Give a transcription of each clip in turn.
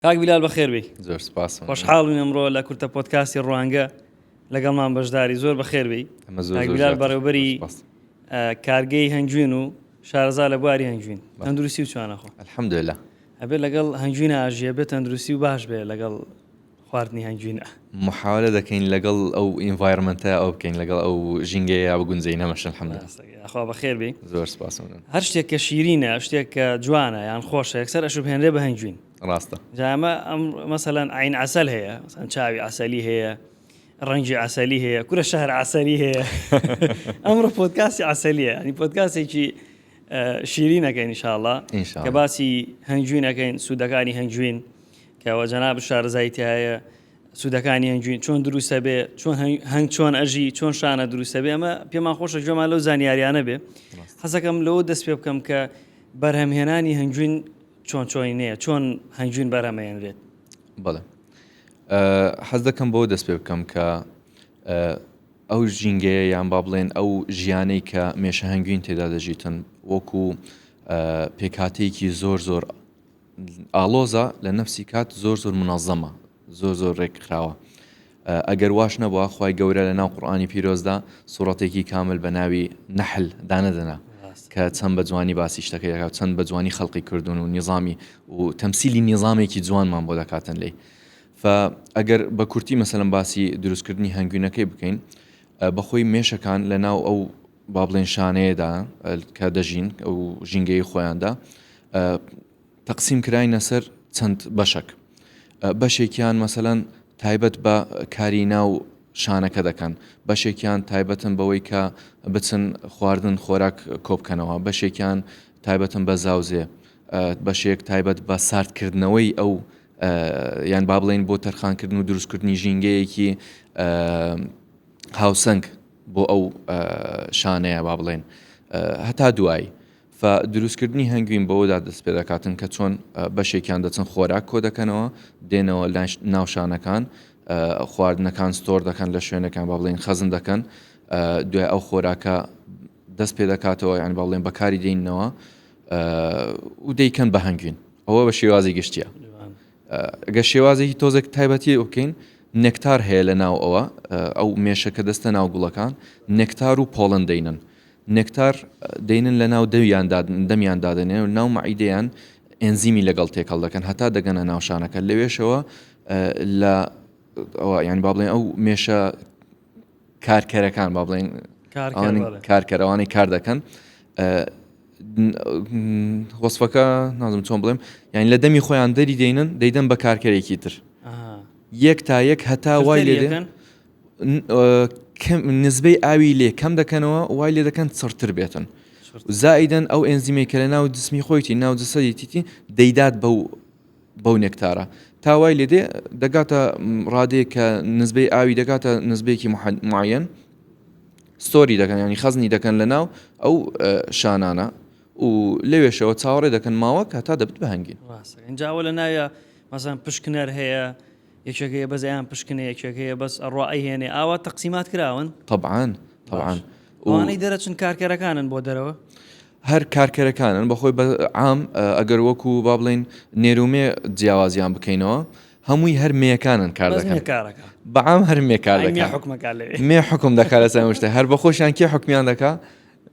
کاک بیلال بەخێر بێی زۆر سپاس خۆشحاڵم ئەمڕۆ لە کورتە پۆتکاسی ڕوانگە لەگەڵمان بەشداری زۆر بەخێر بێی بیلال بەڕێوبەری کارگەی هەنجوین و شارەزا لە بواری هەنجوین تەندروستی و چوانەخۆ الحمدلله ئەبێت لەگەڵ هەنجوینە ئاژیە بێت تەندروستی و باش بێ لەگەڵ خواردنی هەنجوینە محاولە دەکەین لەگەڵ ئەو ئینڤایرمنتە ئەو بکەین لەگەڵ ئەو ژینگەیە بگونجی نەمەشن حمدخوا بەخێر بێ زۆر سپاس هەر شتێک کە شیرینە شتێک کە جوانە یان خۆشە یەکسەر ئەشوب هێنرێ بە هەنجوین ڕاستە. جا ئەمە مەسەلەن عەین عەسەل هەیە مەسەلەن چاوی عەسەلی هەیە ڕەنگی عەسەلی هەیە کورە شەهر عەسەلی هەیە ئەمڕۆ پۆتکاسی عەسەلیە ینی پۆتکاسێکی شیری نەکەین نیشاءله کە باسی هەنگوین نەکەین سوودەکانی هەنگوین کەەوە جەناب شارزای تایە سوودەکانی هەنگوین چۆن دروستە بێ چۆن هەنگ چۆن ئەژی چۆن شانە دروستە بێ ئەمە پێمان خۆشە جۆمان لەو زانیاریانە بێ حەزەکەم لەوە دەست پێ بکەم کە بەرهەمهێنانی هەنگوین چۆن چۆنی نەیە چۆن هەنگوین بەرهەمەێنرێت بەڵێ حەز دەکەم بۆ دەست پێ بکەم کە ئەو ژینگەیە یان با بڵێن ئەو ژیانەی کە مێشە هەنگوین تێدا دەژیتن وەکو پێکاتەیەکی زۆر زۆر ئاڵۆزە لە نفسی کات زۆر زۆر منەظەمە زۆر زۆر ڕێک خراوە ئەگەر واش نەبووە خی گەورە لە ناو قورآانی پیرۆزدا سوڕەتێکی کامل بە ناوی نەحل دانەدەنا کە چەند بە جوانی باسی شتەکە دەکات چەند بە جوانی خەڵقی کردوون و نیظامی و تەمسیلی نیظامێکی جوانمان بۆ دەکاتن لی ئەگەر بە کورتی مەسەلم باسی دروستکردنی هەنگوینەکەی بکەین بەخۆی مێشەکان لە ناو ئەو بابلێن شانەیەدا کە دەژین ئەو ژینگەی خۆیاندا تەقسیم کراینە سەر چەند بەشەک بەشێکیان مەسەلەن تایبەت بە کاری ناو شانەکە دەکەن بەشێکیان تایبەتن بەوەی کە بچن خواردن خۆراک کۆبکەنەوە بەشێکیان تایبەتن بە زاوزێ بەشێک تایبەت بە ساردکردنەوەی ئەو یان با بڵین بۆ تەرخانکردن و دروستکردنی ژینگەیەکی هاوسەنگ بۆ ئەو شانەیە با بڵێن هەتا دوایی ف دروستکردنی هەنگوین بەوەدا دەستپێدەکاتن کە چۆن بەشێکیان دەچن خۆراک کۆدەکەنەوە دێنەوە لای ناو شانەکان خواردنەکان ستۆر دەکەن لە شوێنەکان با بڵێن خەزن دەکەن دوای ئەو خۆراکە دەست پێ دەکاتەوە یان با بڵێن بەکاری دێننەوە و دەیکەن بە هەنگوین ئەوە بە شێوازی گشتیە گە شێوازێکی تۆزێک تایبەتی بکەین نەکتار هەیە لە ناو ئەوە ئەو مێشەکە دەستە ناو گوڵەکان نەکتار و پۆڵن دەینن نێکتار دێنن لە ناو دەویاندا دەمیان دادەنێن و ناو مەعیدەیان ئێنزیمی لەگەڵ تێکەڵ دەکەن هەتا دەگەنە ناو شانەکە لەوێشەوە لە ئەوە یان با بڵێن ئەو مێشە کارکەرەکان با بڵێن کارکەرەوانی کار دەکەن وەصفەکە نازم چۆن بڵێم یان لە دەمی خۆیان دەری دێنن دەیدەن بە کارکەرێکی تر یەک تا یەک هەتا وای لێ دێن نزبەی ئاوی لێ کەم دەکەنەوە وای لێ دەکەن چڕتر بێتن زائیدەن ئەو ئەنزیمەی کە لە ناو جسمی خۆیتی ناو جسەدی تیتی دەیدات بەو بەو نێکتارە تاوای لێ دێ دەگاتە ڕادێ کە نزبەی ئاوی دەگاتە نزبێکی معەن ستۆری دەکەن ینی خەزنی دەکەن لە ناو ئەو شانانە و لەوێشەوە چاوەڕێ دەکەن ماوە کە تا دەبت بەهنگین جاوە لە ناوە مەزان پشکنەر هەیە یەکێک هەیە بەس ئەیان پشکنێ یەکێک هەیە بەس ئەڕوا ئەیهێنێ ئاوا تەقسیمات کراون؟ تەبعەن تەبعەن و ئەوانەی دەرەچن کارکەرەکانن بۆ دەرەوە؟ هەر کارکەرەکانن بەخۆی بە عام ئەگەر وەکو با بڵین نێرومێ جیاوازیان بکەینەوە هەمووی هەر مێکانن کار دەکەن کارەکە بەعام هەر مێکار دەکە حکومەکە مێ حکم دەکارە سامشتە هەر بەخۆشیان کێ حکمیان دەکا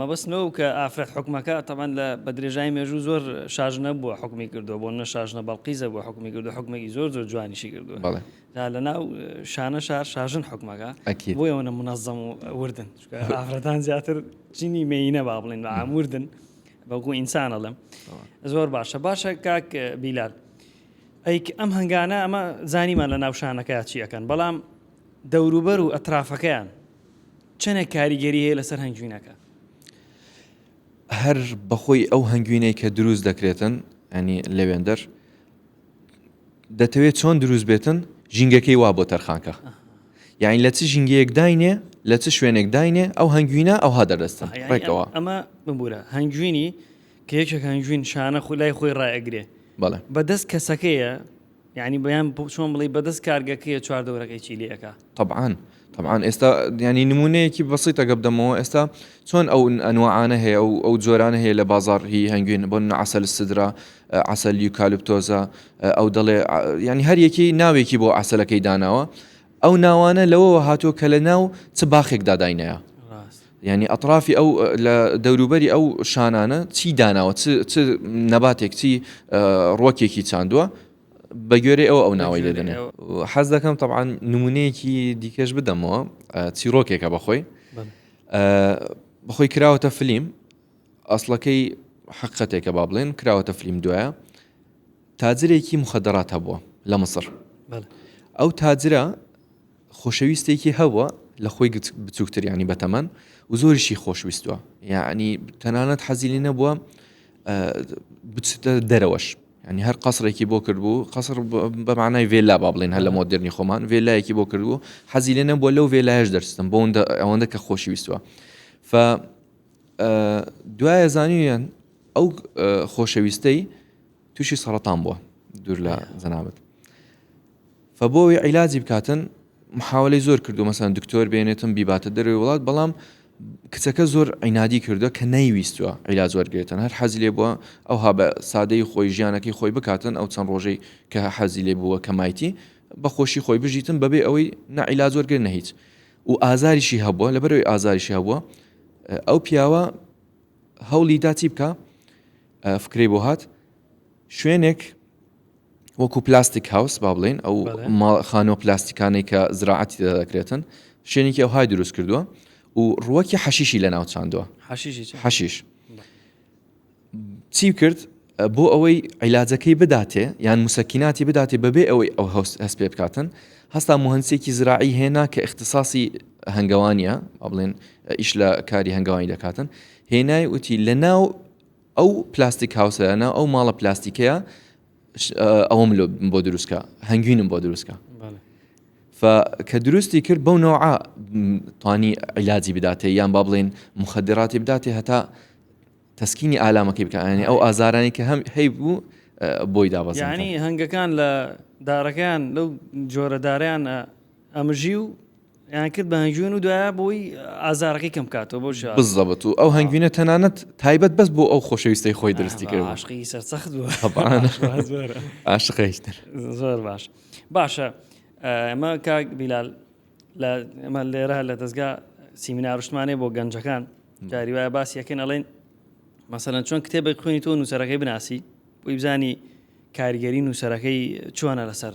مەبەست نەوەو کە ئافرەت حوکمەکە تەبعەن لە بە درێژایی مێژوو زۆر شاژنە بووە حوکمی کردووە بۆ نمونە شاژنە بەڵقیزە بووە حوکمی کردووە حوکمێکی زۆر زۆر جوانیشی کردووە بەڵێ تا لە ناو شانە شار شاژن حوکمەکە ئەکید بۆ ئەوەنە منەزەم و وردن چونکە ئەوە ئافرەتان زیاتر جینی مێینە با بڵێن بە عام وردن بەڵکو ئینسان ئەڵێم تەواو زۆر باشە باشە کاک بیلال ئەیک ئەم هەنگانە ئەمە زانیمان لە ناو شانەکە چی ئەکەن بەڵام دەوروبەر و ئەترافەکەیان چەنە کاریگەری هەیە لەسەر هەنگوینەکە؟ هەر بەخۆی ئەو هەنگوینەی کە دروست دەکرێتن ئەنی لەوێندەر دەتەوێت چۆن دروست بێتن ژینگەکەی وا بۆ تەرخانکە یاین لە چ ژینگەیەک داینێ لە چ شوێنێک داینێ ئەو هەنگوینە ئەوها دەردەستن ڕێکەوە ئەمە ببوورە هەنگوینی کە یەکێک هەنگوین شانە خو لای خۆی ڕایگرێ بەڵێ بەدەست کەسەکەیە یانی بەیان چۆن بڵی بەدەست کارگەکەیە چوار دەورەکەی چی لێ ئەکا طبعاان طبعاان ئێستا ینی نمونەیەکی بەسیتە گە بدەمەوە ئێستا چۆن ئەو ئەنوعاانە هەیە و ئەو جۆرانە هەیە لە بازار هی هەنگوین بۆ عسل سدرا عسل یوکالپتۆزە ئەو دەڵێ ینی هەریەکی ناوێکی بۆ عسلەکەی داناوە ئەو ناوانە لەوەوە هاتووە کە لە ناو چ باخێکدا داینەیە یانی ئەتڕافی ئەو لە دەوروبەری ئەو شانانە چی داناوە چ چ نەباتێک چی ڕۆکێکی چاندووە بە گوێرەی ئەو ئەو ناوەی لێ دەنێ حەز دەکەم تەعاان نمونەیەکی دیکەش بدەمەوە چیرۆکێکە بەخۆی بەخۆی کراوەتە فلیم ئەسڵەکەی حقەتێکە با بڵێن کراوەتە فلیم دوایە تاجرێکی مخەدەرات هەبووە لە مسر ئەو تاجرە خۆشەویستێکی هەبوە لە خۆی بچوکتر یانی بە تەمەن و زۆریشی خۆشویستوە یعنی تەنانەت حەزیلی نەبووە بچتە دەرەوەش ینی هەر قەسرێکی بۆ کردبوو قەسر بەمانای ڤێلا با بڵێن هەر لە مۆدررنی خۆمان ڤێلایەکی بۆ کردبوو حەزی لێ نەبووە لەو ڤێلایش دەرستم بۆ ئەوەندە کە خۆشویستوە ف دوایە زانیویان ئەو خۆشەویستەی تووشی سەرەتان بووە دوور لە زەنابەت فە بۆ ئەوەی عیلاجی بکاتن محاولەی زۆر کردو مەسەن دکتۆر بێنێتم بیباتە دەروی وڵات بەڵام کچەکە زۆر عینادی کردو کە نەیویستوە عیلاج وەرگێتن هەر حەزی لێ بووە ئەو ها بە سادەی خۆی ژیانەکەی خۆی بکاتن ئەو چەند ڕۆژەی کە حەزی لێ بووە کە مایتی بە خۆشی خۆی بژیتن بەبێ ئەوەی نەعیلا زۆرگرێ نە هیچ و ئازاریشی هەبووە لەبەرەوەی ئازاریشی هەبووە ئەو پیاوە هەوڵی داچی بکە فکرەی بۆ هات شوێنێک وەکو پلاستیک هاوس با بڵین ئەو خانۆ پلاستیکانەی کە زراعەتی دەدەکرێتن شوێنێکی ئەو های دروست کردووە و ڕوەکی حەشیشی لە ناوچاندووە حەشیش چی کرد بۆ ئەوەی عیلاجەکەی بداتێ یان مسەکیناتی بداتێ بەبێ ئەوەی ئەو هەست هەست پێ بکاتن هەستا مهندسێکی زراعی هێنا کە اختصاصی هەنگەوانە ئەڵێن ئیش لە کاری هەنگەوانی دەکاتن هێنای وتی لە ناو ئەو پلاستیک هاوسە ناو ئەو ماڵە پلاستیکەیە ئەوم بۆ دروستکە هەنگوینم بۆ دروستکە کە دروستی کرد بەو نەوە توانی عیلاجی بداتێ یان با بڵێن مخدراتی بداتێ هەتا تەسکینی ئالامەکەی بکەیانی ئەو ئازارانی کە هەم هەی بوو بۆی دابەزانی هەنگەکان لە دارەکەیان لەو جۆرەداریان ئەمژی و یان کرد بە هەنگوین و دوایە بۆی ئازارەکەی کەم بکاتەوە بۆ شا بالضبط و ئەو هەنگوینە تەنانەت تایبەت بەس بۆ ئەو خۆشەویستەی خۆی دروستی کرد بوو عاشقی سەر سەخت بوو طبعا عاشق واز بەرە. عاشق هیچ تر زۆر باش باشە ئەمە کاک بیلال لە ئەمە لێرە لە دەستگا سیمینار و شتمانێ بۆ گەنجەکان جاری وایە باسی یەکەن ئەڵێن مەسەلەن چۆن کتێبێک خوێنی تۆ نووسەرەکەی بناسی بۆی بزانی کاریگەری نووسەرەکەی چۆنە لەسەر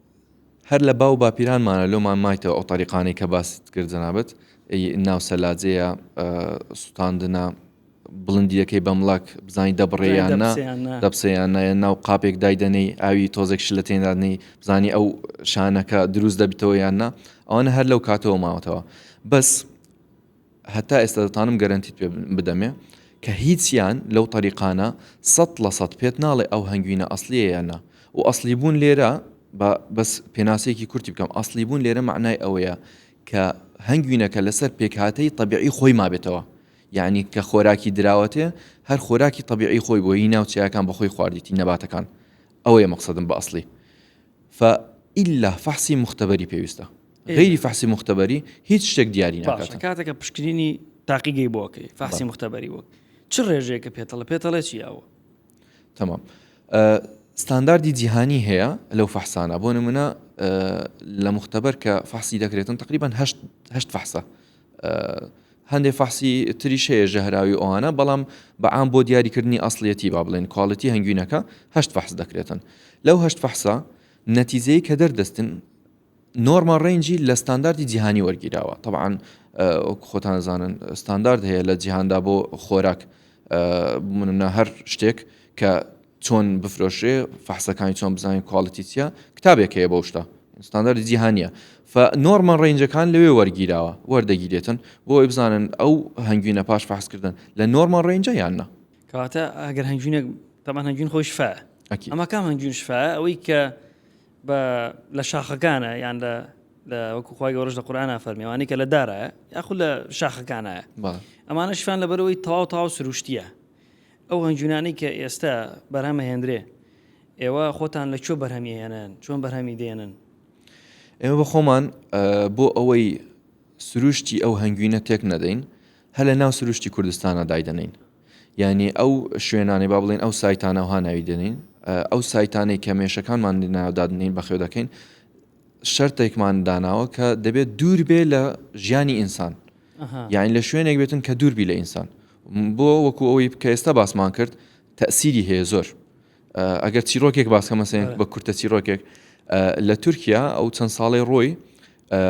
هەر لە باو باپیرانمانە لۆمان مایتەوە ئەو تەریقانەی کە باست کرد جەنابت ناو سەلاجەیە سوتاندنە بڵندیەکەی بەمڵک بزانانی دەبڕێیان دەپسیان نایە ناو قاپێک دایدەنەی ئاوی تۆزێک شلە تێنادنی بزانی ئەو شانەکە دروست دەبیتەوە یاننا ئەوانە هەر لەو کاتەوە ماوەتەوە بەس هەتا ئێستا دەتانم گەرەنتیت پێ بدەمێ کە هیچیان لەو تەریقانە سەد لە سەد پێت ناڵێ ئەو هەنگوینە ئەسلیە یان نا و ئەسلی بوون لێرە بەس پێناسەیەکی کورتی بکەم ئەسلی بوون لێرە معنای ئەوەیە کە هەنگوینەکە لەسەر پێکهاتەی طبیعی خۆی مابێتەوە یعنی کە خۆراکی دراوەتێ هەر خۆراکی طبیعی خۆی بۆی ناوچەکان بەخۆی خواردیتی نەباتەکان ئەوەیە مەقصدم بە ئەسلی فە ئللا فەحسی مختبەری پێویستە غەیری فەحسی موختەبەری هیچ شتێک دیاری ناکات. باشە کاتێکە پشکنینی تاقیگەی بۆ ئەکەی فەحسی موختەبەری وەک چ ڕێژەیەکە پێتەڵە پێتەڵێ چی ئەوە؟ تەمام ستانداردی جیهانی هەیە لەو فەحسانە بۆ نمونە لە مختبەر کە فەحسی دەکرێتن تقریبان هەشت فەحسە هەندێک فەحسی تریشەیە ژەهراوی ئەوانە بەڵام بەعام بۆ دیاریکردنی ئەاصلەتی با بڵێن کوالڵەتی هەنگوینەکە هەشت فەحس دەکرێتن لەو هەشت فەحسە نەتیزەی کە دەردەستن نۆرماڵ ڕەینجی لە ستانداردی جیهانی وەرگیراوە تەبعاان وەک خۆتان دەزانن ستاندارد هەیە لە جیهاندا بۆ خۆراک منە هەر شتێک کە چۆن بفرۆشێ فەحسەکانی چۆن بزانین کوالڵتی چیە کتابێک هەیە بەو شتە ستاندارد جیهانیە فنۆرمە ڕێنجەکان لەوێ وەرگیراوە وەردەگیرێتن بۆی بزانن ئەو هەنگوینە پاش فحسکردن لە نۆرمە ڕێنجە یاننا کاتە ئەگەر هەنگوینێک تەمان هەنگوین خۆی شفا ئەمە کام هەنگوین شفا ئەوەی کە بە لە شاخەکانە یان لە لە وەکو خخوای گەۆرش لە قورآان فەرمی ئەوانی کە لە دارایە یاخود لە شاخەکانایە بەڵێ ئەمانە شوان لە بەرەوەی تەواو تاو سروشتیە ئەو هەنجونانەی کە ئێستا بەرهەمە هێندرێ ئێوە خۆتان لە کوێ بەرهەمی هێنن چۆن بەرهەمی دێنن ئێمە بە خۆمان ئە، بۆ ئەوەی سروشتی ئەو هەنگوینە تێک نەدەین هەر لە ناو سروشتی کوردستانە دایدەنین یانی ئەو شوێنانەی با بڵێن ئەو سایتانە وها ناوی دەنین ئەو سایتانەی کە مێشەکانمان ناودادنین بە خێودەکەین شەرتێکمان داناوە کە دەبێت دوور بێ لە ژیانی ئینسان یاین لە شوێنێک بێتن کە دووربی لە ئینسان بۆ وەکو ئەوەی کە ئێستا باسمان کرد تەسیری هەیە زۆر ئەگەر چیرۆکێک باسکە مەسەن بە کورتە چیرۆکێک لە تورکیا ئەو چەند ساڵی ڕۆی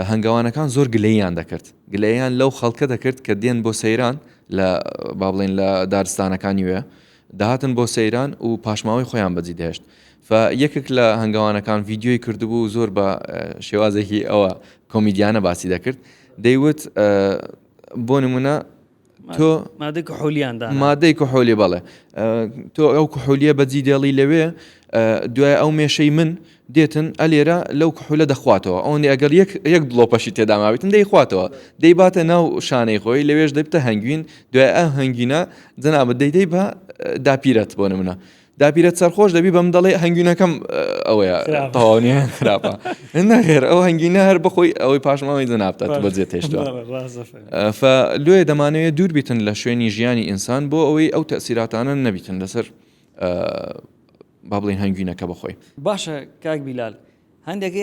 هەنگاوانەکان زۆر گلەیان دەکرد گلەیان لەو خەڵکە دەکرد کە دێن بۆ سەیران لە با بڵێن لە دارستانەکانی وێ داهاتن بۆ سەیران و پاشماوەی خۆیان بەجی دەهشت یەکێک لە هەنگاوانەکان ڤیددیوی کردبوو زۆر بە شێوازێکی ئەوە کۆمیدیانە باسی دەکرد دەیوت بۆ نمونە تۆ مادەی کحولیان دا مادەی کحولی بەڵێ تۆ ئەو کحولیە بەجی دێڵی لەوێ دوای ئەو مێشەی من دێتن ئەلێرە لەو کحولە دەخواتەوە ئەوەندی ئەگەر یەک یەک بڵۆپەشی تێداماویتن دەیخواتەوە دەیباتە ناو شانەی خۆی لەوێش دەبتە هەنگوین دوای ئە هەنگینە جەنابەت دەیدەی بە داپیرەت بۆ نمونە داپیرەت سەرخۆش دەبی بەم دەڵێ هەنگوینەکەم ئەوەیە تاوانە خراپە نەخێر ئەو هەنگینە هەر بخۆی ئەوەی پاشماوەی جەنابتە بە جێ تێشتوە لێ دەمانەوەیە دوور بیتن لە شوێنی ژیانی ئینسان بۆ ئەوەی ئەو تەسیراتانە نەبیتن لەسەر با بڵین هەنگوینەکە بخۆی باشە کاک بیلال هەندێک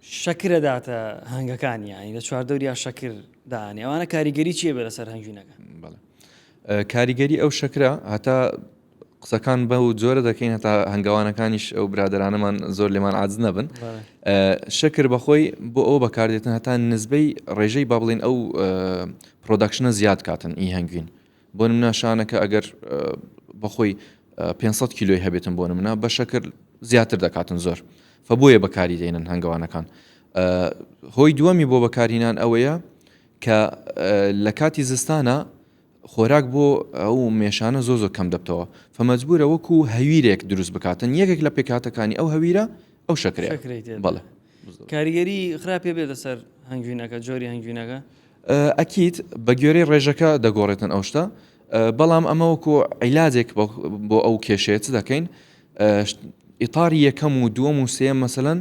شەکرە داتە هەنگەکانی ینی لە چواردەوریا شەکر دانێ ئەوانە کاریگەری چیە بە لەسەر هەنگوینەکە کاریگەری ئەو شەکرە هەتا قسەکان بە و جۆرە دەکەین هەتا هەنگاوانەکانیش ئەو برادرانەمان زۆر لێمان عادز نەبن شەکر بەخۆی بۆ ئەو بەکاردێتن هەتا نزبەی ڕێژەی با بڵین ئەو پرۆداکشنە زیاد کاتن ئی هەنگوین بۆ منە شانەکە ئەگەر بەخۆی 500 کیلۆی هەبێتن بۆ منە بە شەکر زیاتر دەکاتن زۆر فبووە بەکاری دێنن هەنگوانەکان هۆی دووەمی بۆ بەکارینان ئەوەیە کە لە کاتی زستانا خۆراک بۆ ئەو مێشانە زۆ زۆ کەم دەبتەوە فمەجبورە وەکو هەویرێک دروست بکاتن یەکێک لە پێکاتەکانی ئەو هەویرە ئەو شەکرێت بەڵێ کاریگەری خراپێ بێتە سەر هەنگوینەکە جۆری هەنگوینەکە ئەکییت بە گوێرەی ڕێژەکە دەگۆڕێتن ئەو شتە بەڵام ئەمەوەکو عیلاجێک بۆ ئەو کێشێت دەکەین ئیتاری یەکەم و دووەم و سێ مەسەەن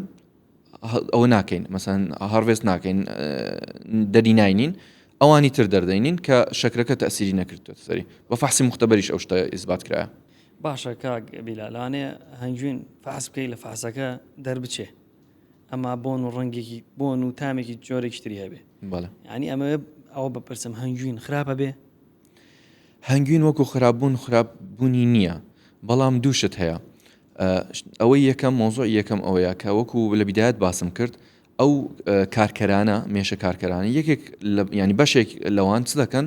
ئەوە ناکەین مەسەن هەڕێست ناکەین دەری ناینین ئەوانی تر دەردەینین کە شەکرەکە تەسیری نەکردێت سەری بە فحسی مختبەریش ئەو شتە ئیسبات کرا باشە کاک بیلالانێ هەنگوین فحس بکەی لە فحسەکە دەربچێ ئەما بۆن و ڕەنگێکی بۆن و تامێکی جۆرێکی تری هەبێ ینی ئەمە ئەوە بەپرسم هەنگوین خراپە بێ هەنگوین وەکو خراپبوون خراپبوونی نییە بەڵام دووشت هەیە ئەوەی یەکەم مۆزوعی یەکەم ئەوەیە کە وەکو لە بیدایەت باسم کرد ئەو کارکەرانە مێشە کارکەرانی یەکێک ینی بەشێک لەوان چ دەکەن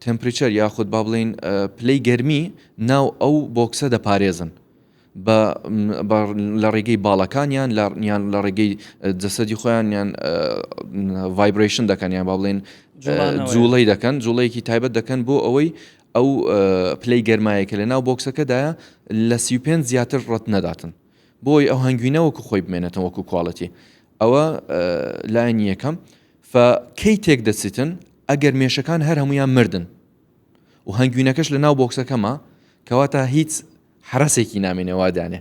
تمپریچەر یاخود با بڵین پلەی گەرمی ناو ئەو بۆکسە دەپارێزن لە ڕێگەی باڵەکانیان یان لە ڕێگەی جەسەدی خۆیانیان ڤایبرشن دەکەنیان با بڵێن جوڵی دەکەن جوڵەیەکی تایبەت دەکەن بۆ ئەوەی ئەو پلەی گەرمایە کە لە ناو بۆکسەکەدایە لە سی و پێنج زیاتر ڕەت نەداتن بۆی ئەو هەنگوینە وەکو خۆی بمێنێتەوە وەکو کوالەتی ئەوە لایەنی یەکەم فکەی تێک دەچیتن ئەگەر مێشەکان هەر هەمویان مردن و هەنگوینەکەش لە ناو بۆکسەکەمە کەواتە هیچ حرەسێکی نامێنێوا دانێ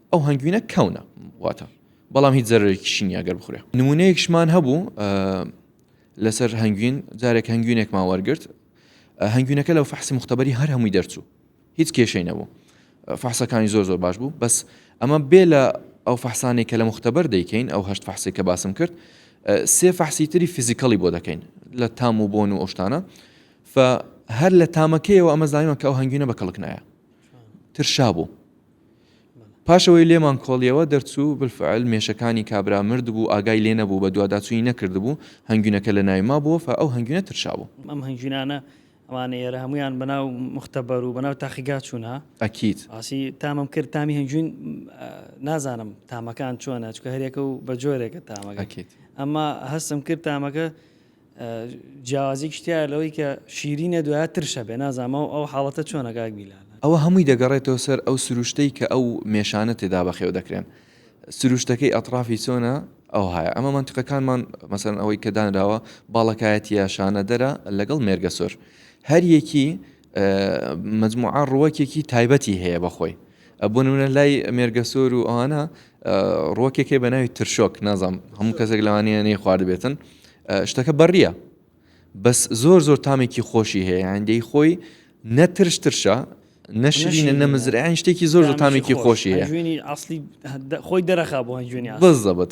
ئەو هەنگوینە کەونە واتە بەڵام هیچ زەرێکیشی نیە گەر بخورێ نمونەیەکشمان هەبوو لەسەر هەنگوین جارێک هەنگوینێکمان وەرگرت هەنگوینەکە لەو فەحسی مختبەری هەر هەمووی دەرچوو هیچ کێشەی نەبوو فحسەکانی زۆر زۆر باش بوو بەس ئەمە بێ لە ئەو فحسانی کە لە مختبەر دەیکەین ئەو هەشت فحسی کە باسم کرد سێ فحسی تری فیزیکەڵی بۆ دەکەین لە تام و بۆن و ئۆشتانە هەر لە تامەکەیەوە ئەمە زانیمە کە ئەو هەنگوینە بە کەڵکنایە ترشا بوو پاش ئەوەی لێمان کۆڵیەوە دەرچوو، بالفعل مێشەکانی کابرا مردبوو، ئاگای لێ نەبوو، بەدواداچوونی نەکردبوو، هەنگوینەکە لە ناوی مابوو، فە ئەو هەنگوینە ترشابوو. ئەم هەنگوینانە ئەوانە ئێرە هەموویان بە ناو موختەبەر و بە ناو تاقیگا چوون ها؟ ئەکید. باسی تامم کرد، تامی هەنگوین نازانم تامەکان چۆنە، چونکە هەریەکە و بە جۆرێکە تامەکە. ئەکید. ئەمما هەستم کرد تامەکە. جیاوازیەکیش تیایە لەوەی کە شیرینە دوایە ترش هەبێ نازانم ئەو ئەو حاڵەتە چۆنە کاک بیلال. ئەوە هەمووی دەگەڕێتەوە سەر ئەو سروشتەی کە ئەو مێشانە تێدا بەخێو دەکرێن سروشتەکەی ئەتڕافی چۆنە ئەوهایە ئەمە مەنتقەکانمان مەسەن ئەوەی کە دانراوە باڵەکایەتیە شانەدەرە لەگەڵ مێرگە سۆر هەریەکی مجموعە ڕووەکێکی تایبەتی هەیە بەخۆی بۆ نمونە لای مێرگەسۆر و ئەوانە ڕۆکێکێ بە ناوی ترشۆک نازام هەموو کەسێک لەوانەیە نەی خواردبێتن شتەکە بەڕیە بەس زۆر زۆر تامێکی خۆشی هەیە هەندەی خۆی نەترش ترشە نەشرینە نەمزرعیان شتێکی زۆر زۆر تامێکی خۆشی هەیە خۆی دەرەخا بۆ بزەبت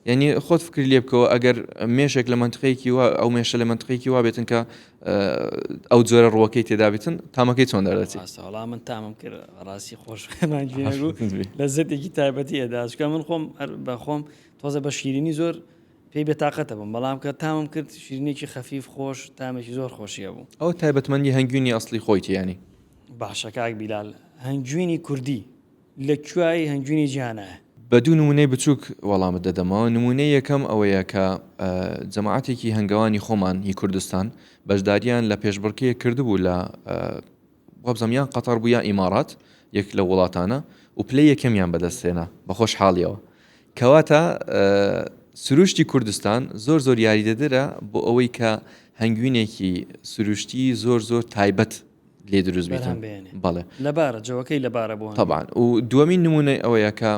ینی خۆت فکر لێ بکەوە ئەگەر مێشێک لە منتقەیەکی وا ئەو مێشە لە منتقێکی وا بێتن کە ئەو جۆرە ڕووەکەی تێدابێتن تامەکەی چۆن دەردەچی ئاستاڵا من تامم کرد ڕاستی خۆش لە زەتێکی تایبەتی ئەداشکە من خۆم بەخۆم تۆزە بە شیرینی زۆر پێی بێتاقەتە بم بەڵام کە تامم کرد شیرینێکی خەفیف خۆش تامێکی زۆر خۆشیە بوو ئەو تایبەتمەندی هەنگوینی ئەاصلی خۆیتیانی باشەکەک بیلال هەنگوینی کوردی لە کوێی هەنجوینی جیهانە؟ بە دوو نموونەی بچووک وەڵامت دەدەمەوە، نموونەی یەکەم ئەوەیە کە جەماعەتێکی هەنگەوانی خۆمان هی کوردستان بەشداریان لە پێشبڕکێیەک کردبوو لە وابزانم یان قەتەڕ بوو یا ئیماڕات یەک لەو وڵاتانە و پلەی یەکەمیان بەدەستهێنا بە خۆشحاڵیەوە کەواتە سروشتی کوردستان زۆر زۆر یاریدەدرە بۆ ئەوەی کە هەنگوینێکی سروشتی زۆر زۆر تایبەت لێ دروست بێتان بەڵێ لەبارە جەوەکەی لەبارە بۆ تەبان و دووەمین نمونەی ئەوەیە کە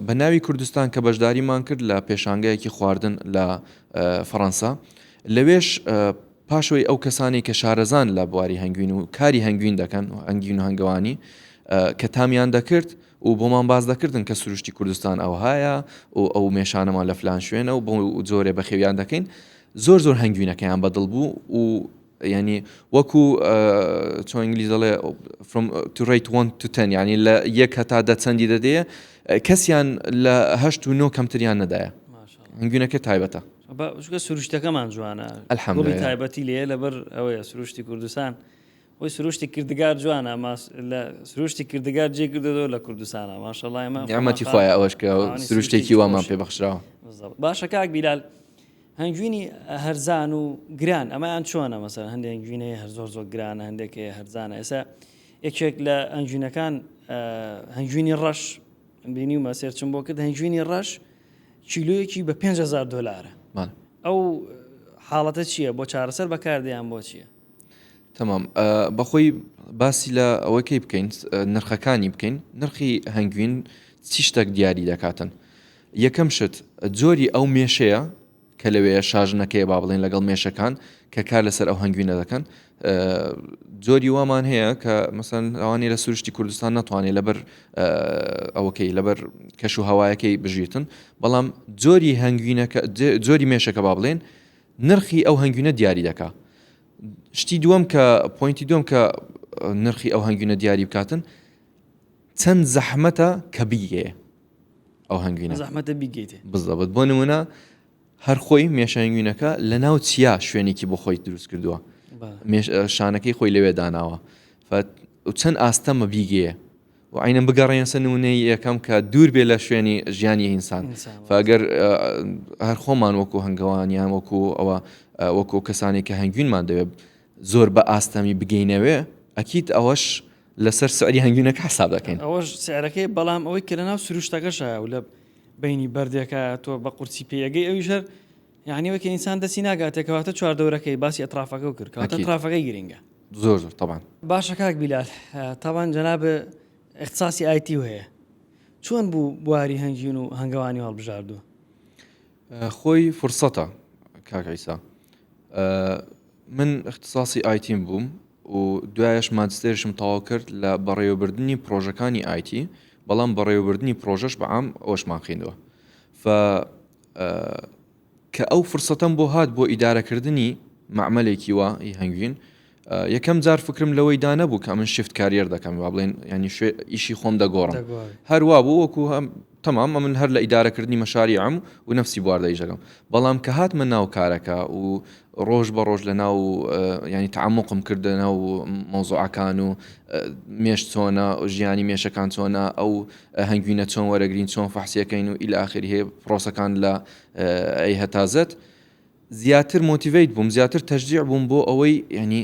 بە ناوی کوردستان کە بەشداریمان کرد لە پێشانگایەکی خواردن لە فەڕەنسا لەوێش پاشەوەی ئەو کەسانی کە شارەزان لە بواری هەنگوین و کاری هەنگوین دەکەن و ئەنگین و هەنگەوانی کە تامیان دەکرد و بۆمان باز دەکردن کە سروشتی کوردستان ئەوهایە و ئەو مێشانەمان لە فلان شوێنە و بۆ جۆرێ بەخێویان دەکەین زۆر زۆر هەنگوینەکەیان بەدڵ بوو و یانی وەکو چۆن ئینگلیز دەڵێ from to rate one to ten یانی لە یەک هەتا دە چەندی دەدەیە کەسیان لە هەشت و نۆ کەمتریان نەدایە هەنگوینەکە تایبەتە بەگە سروشتەکەمان جوانە ئەلحەمدڵی تایبەتی لێ لەبەر ئەوەیە سروشتی کوردستان وی سروشتی کردگار جوانە لە سروشتی کردگار جێ کردەوە لە کوردستانە ماشەڵایمە ئەمەتی خخوای ئەوەش کە سروشتێکی وامان پێ بەخشراوە باشە کاک بیلال هەنگوینی هەرزان و گران ئەمەیان چۆنە مەسەر هەندێک هەنگوینەیە هەر زۆر زۆر گرانە هەندێک هەیە هەرزانە ئێستا یەکێک لە ئەنجوینەکان هەنگوینی ڕەش بینی و مەسێرچم بۆ کرد هەنگوینی ڕەش کیلویەکی بە 5هزار دلارە ئەو حاڵەتە چییە بۆ چارەسەر بەکاردەیان بۆ چییە تەمام بەخۆی باسی لە ئەوەکەی بکەین نرخەکانی بکەین نرخی هەنگوین چی شتێک دیاری دەکاتن یەکەم شت، جۆری ئەو مێشەیە کە لەوێیە، شاژنەکەیە با بڵێین لەگەڵ مێشەکان کە کار لەسەر ئەو هەنگوینە دەکەن. جۆری وامان هەیە کە مەسەن ئەوانی لە سروشتی کوردستان ناتوانێت لەبەر ئەوەکەی لەبەر کەش و هەوایەکەی بژیتن بەڵام جۆری هەنگوینەکە جۆری مێشەکە با بڵێن نرخی ئەو هەنگوینە دیاری دەکا شتی دووەم کە پوینتی دوم کە نرخی ئەو هەنگوینە دیاری بکاتن چەند زەحمەتە کە بگەیە ئەو هەنگوینە زەحمەتە بیگەیتێ بزەبت بۆ نمونە هەرخۆی مێشەنگوینەکە لە ناو چیا شوێنێکی بۆ خۆی دروست کردووە شانەکەی خۆی لەوێ داناوە چەند ئاستەمە بیگەیە و عینەن بگەڕێن سە نونەی یەکەم کە دوور بێ لە شوێنی ژیانی ئینسان فگەر هەر خۆمان وەکو هەنگەوانیان وەکو ئەوە وەکو کەسانی کە هەنگوینمان دەوێت زۆر بە ئاستەمی بگەینەوێ ئەکییت ئەوەش لەسەر سعری هەنگوینەکە حساب دەکەین. ئەوەش سعرەکەی بەڵام ئەوەی کە لەناو سروشتەکەشایە و لە بەینی بەردێکە تۆ بە قورسی پێیەگەی ئەویش هەر یعنی وەکە ئینسان دەسی ناگاتێ کەواتە چواردەورەکەی باسی ئەطرافەکە و کرد کاتە أكيد. ئەطرافەکەی گرنگە زۆر زۆر طبعا باشە کاک بیلال آه، طبعا جناب اختصاصی ئایتی هەیە چۆن بوو بواری هەنگیون و هەنگەوانی هەڵبژاردووە خۆی فرسەتە کاک عیسا من اختصاصی ئایتیم بووم و دوایش ماجستێرشم تەواو کرد لە بەڕێوەبردننی پرۆژەکانی ئایتی بەڵام بەڕێوەبردننی پرۆژەش بەعام ئەوشمان خوێندوە کە ئەو فرسەتەم بۆ هات بۆ ئیدارەکردنی معمەلێکی وە هەنگوین یەکەم جار فکرم لەوەی دا نەبوو کە من شفت کاریەر دەکەم وا بڵێن ینی شوێ ئیشی خۆم دەگۆڕم هەروا بوو وەکو تەمام ئە من هەر لە ئیدارەکردنی مەشاری ئەم و نفسی بواردە ئیشەکەم بەڵام کە هاتمە ناو کارەکە و ڕۆژ بە ڕۆژ لە ناو ینی تعمقم کردنە و مۆزوعەکان و مێش چۆنە ژیانی مێشەکان چۆنە ئەو هەنگوینە چۆن وەرەگرین چۆن فەحسیەکەین و ئیلاخری هەیە پرۆسەکان لە ئەی هەتازت زیاتر مۆتیڤەیت بووم زیاتر تەشجیع بووم بۆ ئەوەی یانی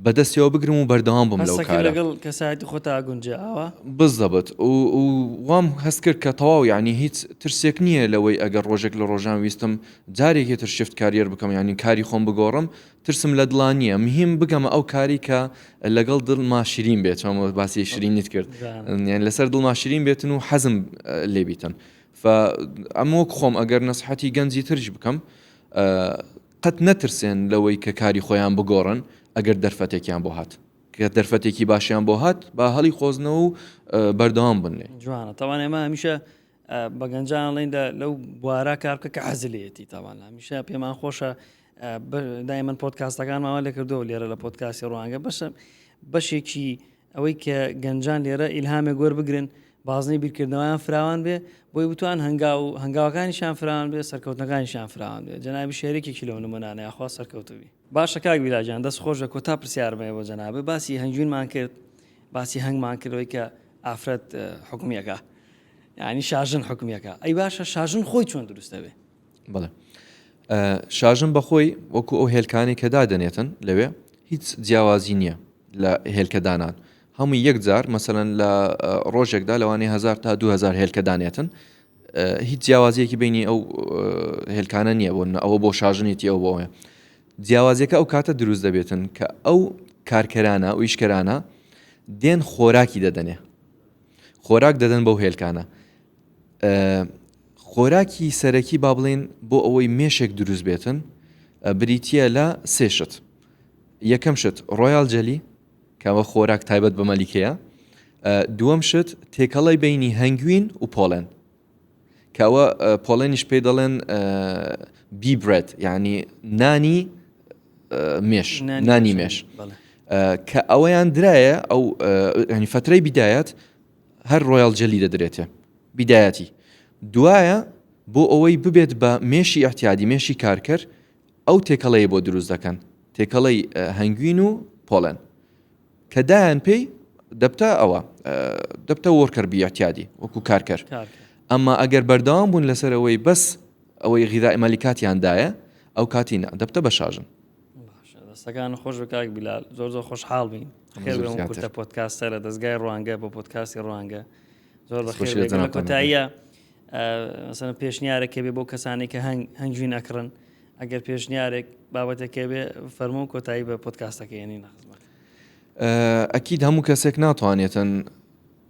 بەدەستیەوە بگرم و بەردەوام بم لەو کارە. هەستەکرد لەگەڵ کەسایەتی خۆتا ئەگونجێ ئاوا؟ بالضبط و و وام هەست کرد کە تەواو یانی هیچ ترسێک نییە لەوەی ئەگەر ڕۆژێک لە ڕۆژان ویستم جارێکی تر شفت کاریەر بکەم یانی کاری خۆم بگۆڕم ترسم لە دڵا نییە مهیم بگەمە ئەو کاری کە لەگەڵ دڵما شرین بێت چۆن باسی شرینیت کرد یانی لەسەر دڵما شرین بێتن و حەزم لێ بیتن فە ئەم وەک خۆم ئەگەر نەسحەتی گەنجی ترش بکەم ئە قەت نەترسێن لەوەی کە کاری خۆیان بگۆڕن ئەگەر دەرفەتێکیان بۆ هات کە دەرفەتێکی باشیان بۆ هات با هەڵی قۆزنەوە و بەردەوام بن لێ جوانە تاوان ئێمە هەمیشە بە گەنجان ڵین لەو بوارە کار بکە کە حەزلێتی تاوان هەمیشە پێمان خۆشە دای من پۆتکاستەکانماوە لێ کردو لێرە لە پۆتکاسی ڕوانگە بەشە بەشێکی ئەوەی کە گەنجان لێرە ئیلهامێک وەربگرن بازنەی بیرکردنەوەیان فراوان بێ بۆی بتوان هەنگاو و هەنگاوەکانیشان فراوان بێ سەرکەوتنەکانیشان فراوان بێ جەنابی شارێکێکی لەو نمونانە یاخوا سەرکەوتوبی باشە کاک بیلاجان دەست خۆش لە کۆتا پرسیارم هەیە بۆ جەنابێ باسی هەنگوینمان کرد باسی هەنگمان کردەوەی کە ئافرەت حکومیەکە ینی شاژن حکومیەکە ئەی باشە شاژن خۆی چۆن دروستەبێ بەڵێ شاژن بەخۆی وەکو ئەو هێلکانی کە دادەنێتن لەوێ هیچ جیاوازی نییە لە هێلکەدانان هەموو یەکجار مەسەەن لە ڕۆژێکدا لەوانی هزار تا 2000 هێلکەدانێتن هیچ جیاوازیەکی بینی ئەو هێلکانە نییە بۆن ئەوە بۆ شاژنێتی ئەو بۆە جیاوازەکە ئەو کاتە دروست دەبێتن کە ئەو کارکەرانە و ئیشکەرانە دێن خۆراکی دەدەنێ خۆراک دەدەن بەو هێلکانە خۆراکی سەرەکی با بڵێین بۆ ئەوەی مێشێک دروست بێتن بریتە لە سێ شت یەکەم شت ڕۆیال جەلی کەەوە خۆراک تایبەت بە مەلیکەیە دووەم شت تێکەڵی بینی هەنگوین و پۆڵێن کەوە پۆڵێنیش پێی دەڵێن بیبرێت یعنی نانی مێش نانی مێش کە ئەوەیان درایە ئەو ینی فترەی بدایەت هەر ڕۆیاڵ جێلی دەدرێتێ بیدایەتی دوایە بۆ ئەوەی ببێت بە مێشی ئەحتیادی مێشی کارکەر ئەو تێکەڵەیە بۆ دروست دەکەن تێکەڵەی هەنگوین و پۆڵێن کە دایان پێی دەبتە ئەوە دەبتە وەرکەر بیاتیادی وەکو کارکەر ئەمما ئەگەر بەردەوام بوون لەسەرەوەی بەس ئەوەی غیزای مەلیکاتیان دایە ئەو کاتی نا دەبتە بەشاژن. دەستەکان خۆش بە کاک بیلال زۆر زۆر خۆشحاڵ بین خێرتە پۆتکاستە لە دەستگای ڕوانگە بۆ پۆتکاسی ڕوانگە زۆر بە خێر کۆتاییە سەر پێشنیارێک کە بێ بۆ کەسانی کە هەنگ هەنگوین ئەکڕن ئەگەر پێشنیارێک بابەتێکێ بێ فەرمو و کۆتایی بە پۆتکاستەکەێنی نەخزمەت ئەکیید هەموو کەسێک ناتوانێتن